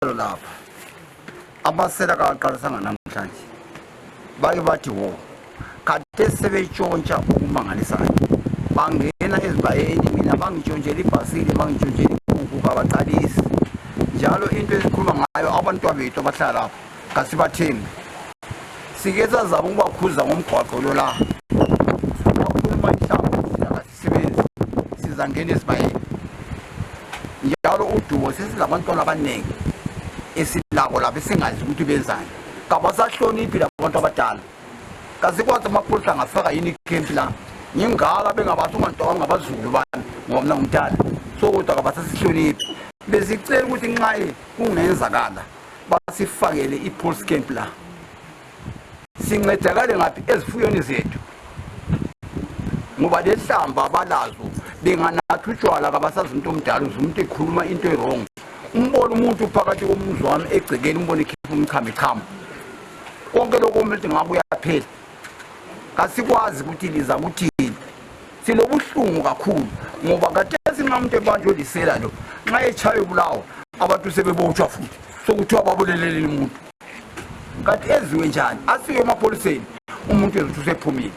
Njalo lapha abasela kaqalisanga namhlanje bake bathi wo kade sebetshontsha okumangalisayo bangena ezibayeni mina bangitshontshela ibhasile bangitshontshela inkukhu kabaqalisi njalo into esikhuluma ngayo abantwa bethu abahlala lapho kasibathembi sike sazama ukubakhuza ngomgwaqo lo la sisebenzi sizangena esibayeni njalo udubo sesilabantwana abaningi esilabo labo esingazi ukuthi benzani kabasahloniphi labantu abadala kasikwazi amaphoyisa angafaka yini ikhempi la ngingaka bengabathi ungantwaka ngabazulu bami ngoba mna ngumdala so kodwa kabasasihloniphi besicela ukuthi nxaye kungenzakala basifakele i-pulse camp la sincedakale ngaphi ezifuyweni zethu ngoba lehlamba abalazo benganatha utshwala kabasazi umuntu omdala uze umuntu ekhuluma into erong umbona umuntu phakathi komuzi wami egcekeni umbona ekhipha umchamo ichamo konke lokho umuntu ngabe uyaphela kasikwazi ukuthi liza kuthini silobuhlungu kakhulu ngoba kade singamuntu ebanje olisela lo nxa etshaye ubulawa abantu sebebotshwa futhi sokuthiwa babuleleleni umuntu kanti enziwe njani asiwe emapholiseni umuntu ezothi usephumile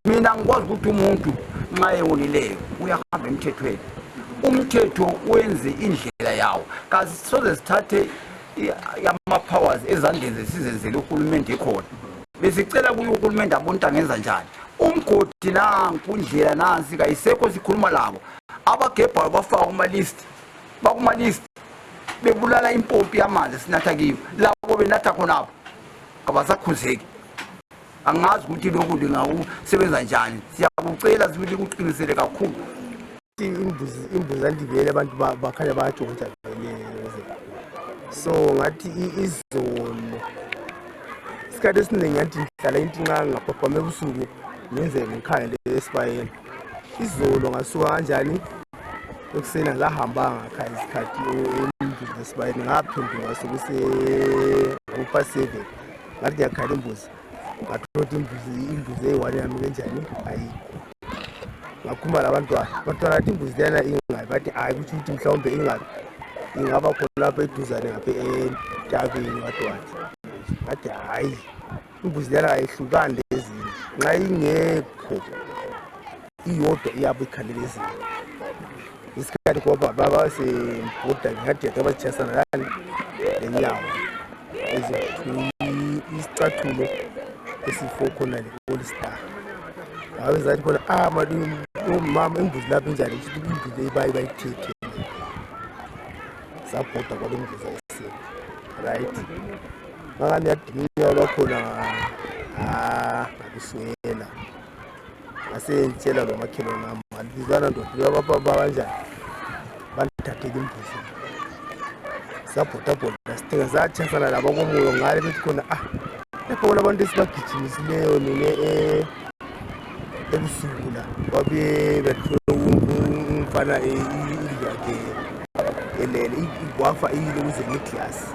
mina ngikwazi ukuthi umuntu nxa ewonileyo uyahamba emthethweni umthetho wenze indlela yawo kasisoze sithathe yama-powers ezandleni zesizenzele uhulumende ekhona besicela kuye uhulumende abonta ngenza njani umgodi nanku indlela nansi kayisekho sikhuluma labo abagebhayo bafaka kuma-list bakumalist bebulala impompi yamanzi sinatha kiyo labo benatha khonapho kabasakhuzeki angazi ukuthi lokhu lingakusebenza njani siyakucela ukuthi kuqinisele kakhulu imbuzi imbuzi andibele abantu bakhanya bayajongoja so ngathi izolo isikhathi esiningi ngathi ngihlala intinqanga ngaphaphama ebusuku ngenze ngikhangele esibayeni izolo ngasuka kanjani ekuseni angahambanga kha isikhathi embizinesibayeni ngaphenduka sekuse-upa seven ngathi ndiyakhala imbuzi ngathola ukuthi imbuzi imbuzi eyi-one yami kenjani ayikho ngakhumba labantwana abantwana athi imbuzi leyana ingabi bathi hayi kutsho ukuthi mhlawumbe ingabi ingaba khona lapho eduzane ngapha entabeni wadwathi ngathi hhayi imbuzi lena ayihlukani lezinye nxa ingekho iyodwa iyabe ikhalele ezinye isikhathi ngoba baba sebhuda ngingadeda abatshiyasana lani lenyawo isicathulo esifo khona le-olstar ngabe zathi khona ah mama imbuzi lapho injani ukuthi imbuzi leyi bayi bayithethe sabhoda kwalomvuza esini right ngani yadinga bakhona ah akuswela ngasengitshela lo makhelwane wami ngalizana ndoda bababa kanjani bandithathele imbuzi sabhodabhoda sithenga satshasana laba komoyo ngale bethi khona ah lapho bona abantu esibagijimisileyo nine eh, ebusuku la wabe umfana indlu yakhe elele wafa iyile kuze ngeglasi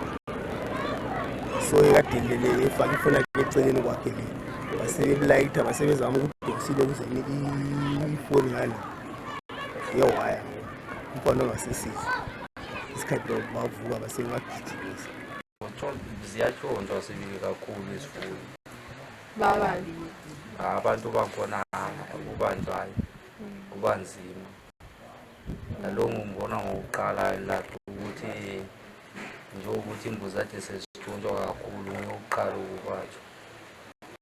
so ekadelele efake ifona eceleni kwakhe le basebelayitha basebezama ukudonsile kuze ifoni ngale yewaya umfana ongasesizwa isikhathi bavuka basebebagijimisa ziyatshontshwa sibili kakhulu isifuyo abantu bakhona kubanjwayo kubanzima nalo ngimbona ngokuqala lathi ukuthi njengokuthi imbuzi ade sezithuntshwa kakhulu ngiyokuqala ukubatshwa